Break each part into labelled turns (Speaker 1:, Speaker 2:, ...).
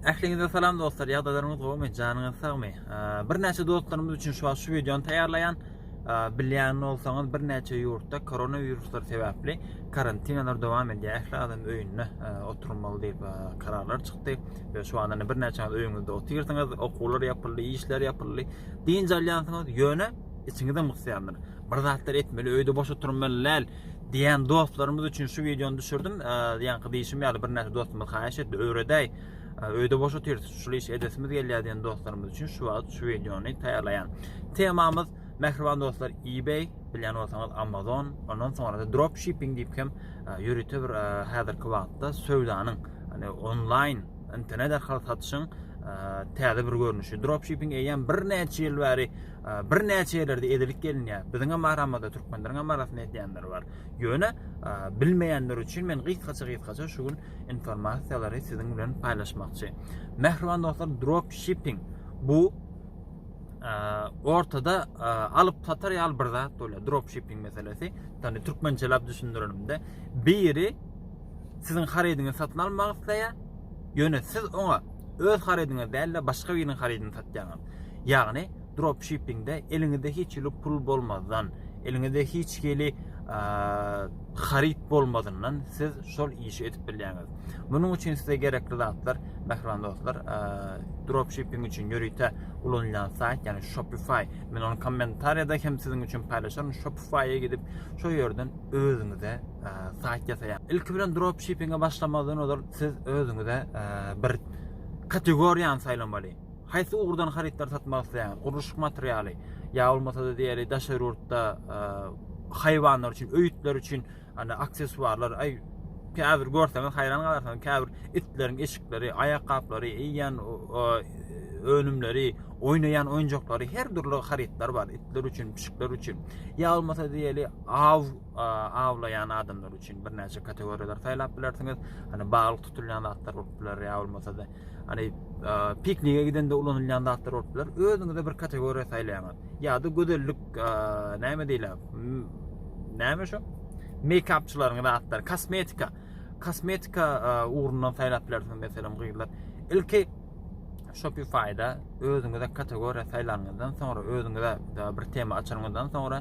Speaker 1: Ähliňize salam dostlar, ýagdaýlaryňyz gowmy, janyňyz sagmy? Birnäçe dostlarymyz üçin şu wagt şu wideony taýýarlaýan. Bilýän bolsaňyz, birnäçe ýurtda koronawiruslar sebäpli karantinalar dowam edýär. Ähli adam öýünde oturmaly diýip kararlar çykdy we şu wagtda birnäçeňiz öýüňizde otyrsyňyz, okuwlar ýapyldy, işler ýapyldy. Dynç alýansyňyz, ýöne içiňizem gysýandyr. Bir zatlar etmeli, öýde boş oturmaly däl. Diýen dostlarymyz üçin şu wideony düşürdim. Ýaňky diýişim ýaly birnäçe dostumyz haýyş etdi, öwredäý. Öýde boş otyrys, şul iş edesimiz gelýär diýen dostlarymyz üçin şu wagt şu wideony taýýarlaýan. Temamyz Mähriban dostlar eBay bilýän bolsaňyz Amazon, ondan soňra da dropshipping diýip hem ýörite bir häzirki wagtda söwdanyň, ýani onlaýn internet arkaly satyşyň täze bir görnüşi. Dropshipping eýýäm birnäçe ýyl bäri birnäçe ýerlerde edelik gelinýär. Biziňem bar ammada türkmenleriňem arasynda edýänler bar. Ýöne bilmeýänler üçin men gysgaça-gysgaça şu gün informasiýalary siziň bilen paýlaşmakçy. Mähriban dostlar, drop shipping bu ortada alyp satar ýaly bir zat bolýar. Drop shipping meselesi, ýagny türkmençeläp düşündirenimde, biri siziň harydyňy satyn almak isleýär, ýöne siz oňa öz harydyňyz däl-de başga biriniň harydyny satýaňyz. Ýagny dropshippingde eliňizde hiç hili pul bolmazdan, eliňizde hiç hili haryt bolmazyndan siz şol işi edip bilýäňiz. Munuň üçin size gerekli zatlar, mähriban dostlar, dropshipping üçin ýörite ulanylýan saýt, ýagny Shopify. Men ony kommentariýada hem siziň üçin paýlaşaryn. Shopify-a gidip, şol ýerden özüňize saýt ýasaýaň. Ilki bilen dropshippinge başlamazdan ozal siz özüňize bir kategoriýany saýlamaly. haýsy ugurdan harytlary satmak isleýäňiz, gurluşyk materialy, ýa bolmasa-da diýeli daşary ýurtda e, haýwanlar üçin, öýütler üçin ana aksessuarlar, aý käbir görseňiz haýran galarsyňyz, käbir itleriň eşikleri, aýakgaplary, iýen önümleri, oýnaýan oýunjaklary, her dürli harytlar bar itler üçin, pişikler üçin. Ýa bolmasa diýeli aw awlaýan adamlar üçin birnäçe kategoriýalar saýlap bilersiňiz. Hani baglyk tutulýan zatlar bolup biler, ýa bolmasa-da Hani piknige gidende ulanylýan zatlar bolup biler. Özüňize bir kategoriýa saýlaýaňyz. Ýa-da gözellik näme diýler? Näme şu? Meýkapçylaryň zatlar, kosmetika. Kosmetika ugrundan saýlap bilersiňiz meselem gyzlar. Ilki Shopify-da özüňize kategoriýa saýlanyňyzdan soňra, özüňize bir tema açanyňyzdan soňra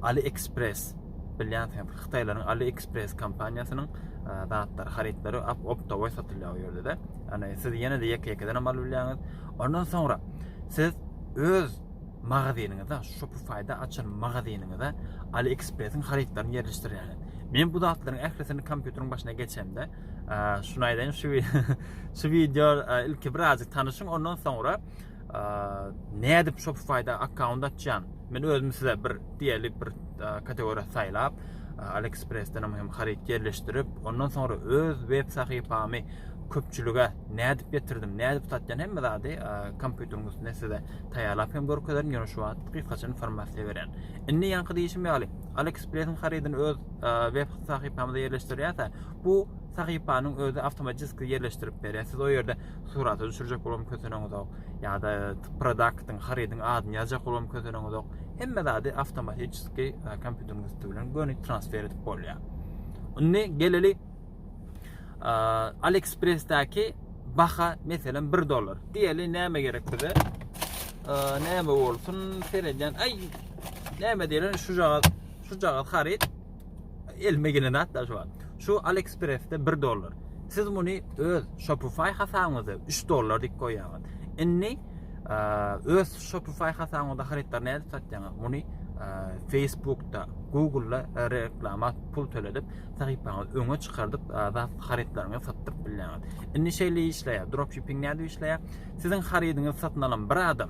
Speaker 1: AliExpress Bilýänsiňiz, hytaýlaryň AliExpress kompaniýasynyň zatlary, harytlary optowoý satylýar o ýerde-de. Ýagny siz ýene-de ýeke-ýekeden hem alyp bilýäňiz. Ondan soňra siz öz magazynyňyza, Shopify-da açan magazynyňyza AliExpress-iň harytlaryny ýerleşdirýäňiz. Men bu zatlaryň ählisini kompýuteriň başyna geçemde, şuny aýdaýyn, şu şu wideo ilki birazjyk tanyşyň, ondan soňra Nädip Shopify-da akkaunt açýan? Men özüm size bir diýeli bir kategoriýa saýlap, AliExpress-den hem haryt ýerleşdirip, ondan soňra öz web sahypamy köpçülige nädip getirdim, nädip satýan hemme zady kompýuteriň üstünde size taýýarlap hem görkezerin, ýöne şu wagt gysgaça informasiýa berýän. Indi ýaňky diýişim ýaly, AliExpress-iň harydyny öz web sahypamyza ýerleşdirýärse, bu sahypanyň özi awtomatiki ýerleşdirip berýär. Siz o ýerde surata düşürjek bolam kösenenizok ýa-da produktyň harydyň adyny ýazjak bolam kösenenizok hemme zady awtomatiki e, kompýuteriň üsti bilen göni transfer edip bolýar indi geleli e, aliexpressdäki baha meselem 1 dollar diýeli näme gerek bize e, näme bolsun seredýän aý näme diýlen şu jagat şu jagat haryt Elime gelen zat da şu wagt. Şu AliExpress-de 1 dollar. Siz muny öz Shopify hasabyňyzda 3 dollar diýip goýýaňyz. Indi öz Shopify hasabyňyzda harytlary nädip satýaňyz? Muny Facebookda, Google'da reklama pul töledip, sahypaňyzy öňe çykardyp, zat harytlaryňy satdyryp bilýäňiz. Indi şeýle işleýär. Dropshipping nädip işleýär? Siziň harydyňyzy satyn alan bir adam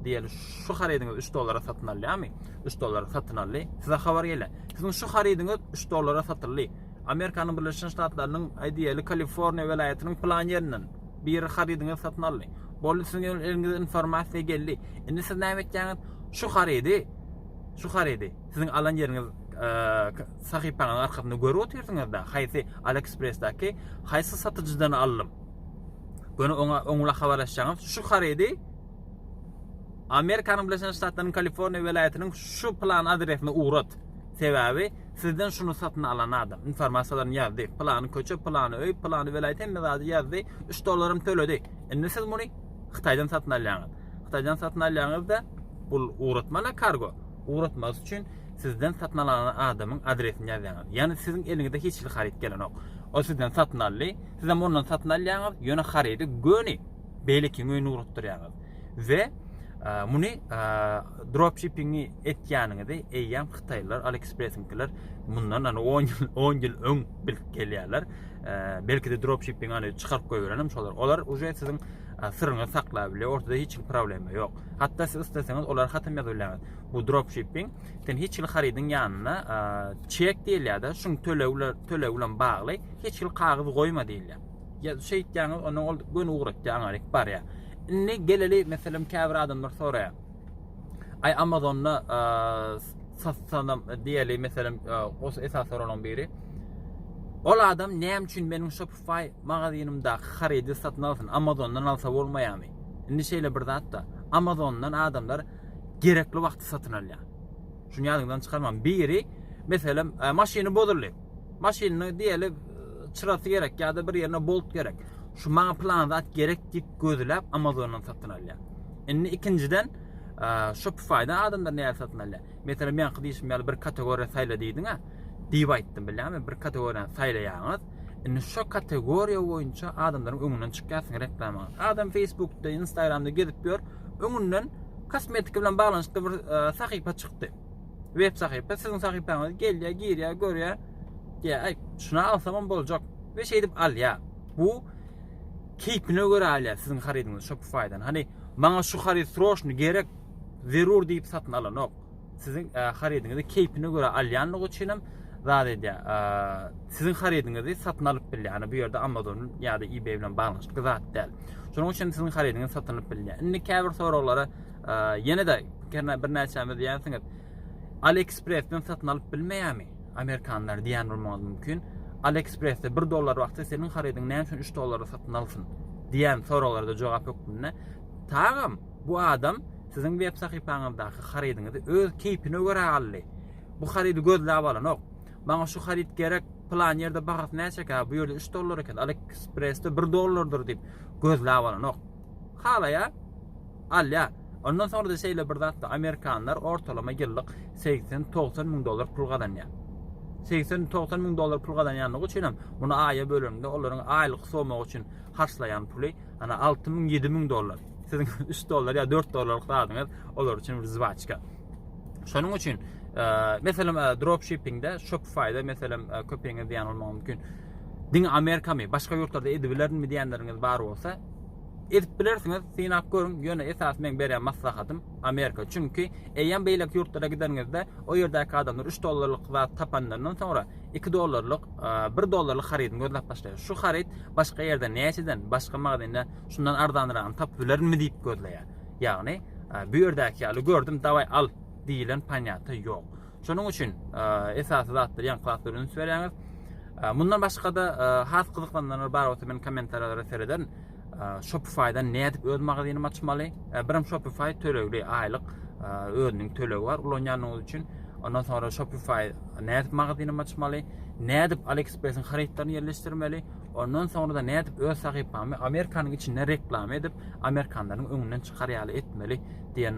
Speaker 1: diýeli şu harydyňyzy 3 dollara satyn alýarmy? Üç dollara satyn aldy. Size habar gele. Siziň şu harydyňyz üç dollara satyldy. Amerikanyň Birleşen Ştatlarynyň aýdýaly Kaliforniýa welaýatynyň plan ýerinden biri harydyňyzy satyn aldy. Boldy siziň eliňize informasiýa geldi. Indi siz näme etýäňiz? Şu harydy şu harydy siziň alan ýeriňiz sahypaňyzyň arkasynda görüp otyrsyňyzda haýsy AliExpressdäki haýsy satyjydan aldym. Göni oňa oňla habarlaşýaňyz. Şu harydy Amerikanyň Birleşen Ştatlarynyň Kaliforniýa welaýatynyň şu plan adresine ugrat. Sebäbi sizden şuny satyn alan adam informasiýalaryny ýazdy. Plany köçe, plany öý, plany welaýat hemme zady ýazdy. 3 dollaram töledi. Indi siz muny Hytaýdan satyn alýaňyz. Hytaýdan satyn alýaňyzda bu ugratmana kargo. Ugratmasy üçin sizden satyn alan adamyň adresini ýazýaňyz. Ýani siziň eliňizde hiç hili haryt gelenok. O sizden satyn aldy. Sizem ondan satyn alýaňyz. Ýöne harydy göni beýlekiň öýüne ugratdyrýaňyz. we muny dropshippingi etýäniňizi eýýäm hytaýlylar aliexpressinkiler mundan ýa 10 ýyl 10 ýyl öň bilip gelýärler belki de dropshipping ýa çykaryp goýberenem şolar olar uje siziň syryňy saklap bilýär ortada hiç kim problema ýok hatda siz isleseňiz olar hatam ýazyp bilýäňiz bu dropshipping sen hiç hil harydyň ýanyna çek diýilýär-de şuň töleg bilen töleg bilen bagly hiç hil kagyz goýma diýilýär Ýa şeýtýäňiz, onda ol göni ugratýan gerek barýar. Indi geleli, meselem, käbir adamlar soraýar. Aý Amazonda satsanam diýeli, meselem, os esas soralaryň biri. Ol adam näme üçin meniň Shopify magazynymdaky harydy satyn alsyn? Amazondan alsa bolmaýarmy? Indi şeýle bir zat-da. Amazondan adamlar gerekli wagty satyn alýar. Şuny ýadyňyzdan çykarmaň. Biri, meselem, maşyny bozuldy. Maşynyny diýeli çyrasy gerek ýa-da bir ýerine bolt gerek. Şu maňa plan zat gerek diýip gözläp Amazondan satyn alýar. Indi ikinjiden Shopify-dan adamlar nädip satyn alýar? Meselem, ýaňky diýişim ýaly bir kategoriýa saýla diýdiň-ä diýip aýtdym bilýärmi? Bir kategoriýany saýlaýaňyz. Indi şo kategoriýa boýunça adamlaryň öňünden çykýarsyň reklamaňy. Adam Facebookda, Instagramda gezip ýör, öňünden kosmetika bilen baglanyşykly bir e, sahypa çykdy. Web sahypa siziň sahypaňyza gelýär, girýär, görýär. Diýär, "Aý, şuna alsamam boljak." We şeýdip alýar. Bu keýpine görä alýar siziň harydyňyzy Shopify-dan. Hany, maňa şu haryt sroşny gerek, zerur diýip satyn alanok. Siziň e, harydyňyzy keýpine görä alýanlygy üçin hem zat edýär. E, siziň harydyňyzy satyn alyp bilýär. Hany bu ýerde Amazon ýa-da eBay bilen baglanyşykly zat däl. Şonuň üçin siziň harydyňyzy satyn alyp bilýär. Indi käbir soraglara Ýene-de birnäçämiz diýýänsiňiz, AliExpress-den satyn alyp bilmeýärmi amerikanlar diýýän bolmagyňyz mümkin. AliExpress-de 1 dollar wagty seniň harydyňy näme üçin 3 dollara satyn alsyn diýýän soraglara jogap hökmünde tagam bu adam siziň web sahypaňyzdaky harydyňyzy öz keýpine görä aldy. Bu harydy gözläp alanok. Maňa şu haryt gerek, plan ýerde bahasy näçekä, bu ýerde 3 dollar eken, AliExpress-de 1 dollardyr diýip gözläp alanok. halaýar, alýar. Ondan soňra-da şeýle bir zatda amerikanlar ortalama ýyllyk segsen, togsan müň dollar pul gazanýar. Segsen, togsan müň dollar pul gazanýandygy üçin hem muny aýa bölende olaryň aýlyk somagy üçin harçlaýan puly, ana, alty müň, ýedi müň dollar. Siziň üç dollar ýa dört dollarlyk zadyňyz olar üçin bir zwaçka. Şonuň üçin, e, meselem, e, dropshippingde, Shopify-da, meselem, e, köpüňiz diýen bolmagy mümkin. Diňe Amerikamy, başga ýurtlarda edibilermi diýenleriňiz bar bolsa, Edip bilersiňiz, synap görüň, ýöne esasy meň berýän maslahatym Amerika, çünki eýýäm beýleki ýurtlara gideniňizde o ýerdäki adamlar üç dollarlyk zat tapanlaryndan soňra iki dollarlyk, bir dollarlyk harydyny gözläp başlaýar. Şu haryt başga ýerde näçeden, başga magazinde şundan arzanragyny tapyp bilerimmi diýip gözleýär. Ýagny bu ýerdäki ýaly gördüm, dawaý al diýilen panýata ýok. Şonuň üçin esasy zatlar ýaňky zatlar üns berýäňiz. Mundan başga-da has gyzyklananlar bar bolsa men kommentariýalara serederin. Shopify-dan nädip öz magazynymy açmaly? Birim Shopify tölegli aýlyk özüniň tölegi bar ulanýanyňyz üçin. Ondan sonra Shopify nädip magazynymy açmaly? Nädip AliExpress-iň harytlaryny ýerleşdirmeli? Ondan sonra-da nädip öz sahypamy Amerikanyň içinde reklama edip, amerikanlaryň öňünden çykar ýaly etmeli diýen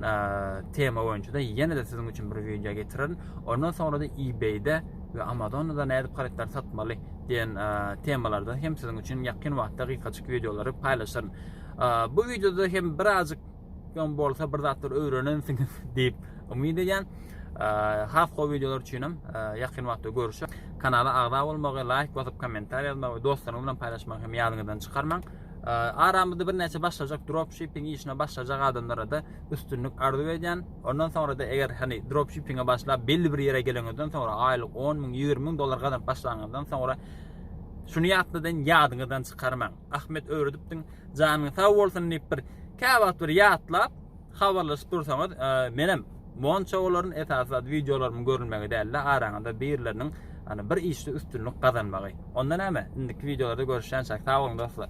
Speaker 1: tema boýunça-da ýene-de siziň üçin bir wideo getirerin. Ondan soňra-da eBay-de we Amazon-da nädip harytlary satmaly diýen temalarda hem siziň üçin ýakyn wagtda gysgaçyk wideolary paýlaşaryn. Bu wideoda hem birazjyk hem bolsa bir zatlar öwrenensiňiz diýip umyt edýän. Has gowy wideolar üçin hem ýakyn wagtda görüşeris. Kanala agza bolmagy, laýk basyp, kommentariýa ýazmagy we dostlaryňyz bilen paýlaşmagy hem ýadyňyzdan çykarmaň. Aramyzda birnäçe başlajak dropshipping işine başlajak adamlara-da üstünlik arzuw edýän. Ondan soňra-da eger hani dropshippinge başlap belli bir ýere geleňizden soňra aýlyk 10 müň, 20 müň dollar gazanyp başlaňyzdan soňra şuny ýatladyn, ýadyňyzdan çykarmaň. Ahmet öwredipdiň, janyň sag bolsun diýip bir käwagt bir ýatlap, Habarlaşyp dursaňyz menem monça bolaryn esasy zat wideolarymyň görülmegi dälde araňyzda birileriniň ýani bir işde üstünlik gazanmagy. Onda näme indiki wideolarda görüşýänçäk sag boluň dostlar.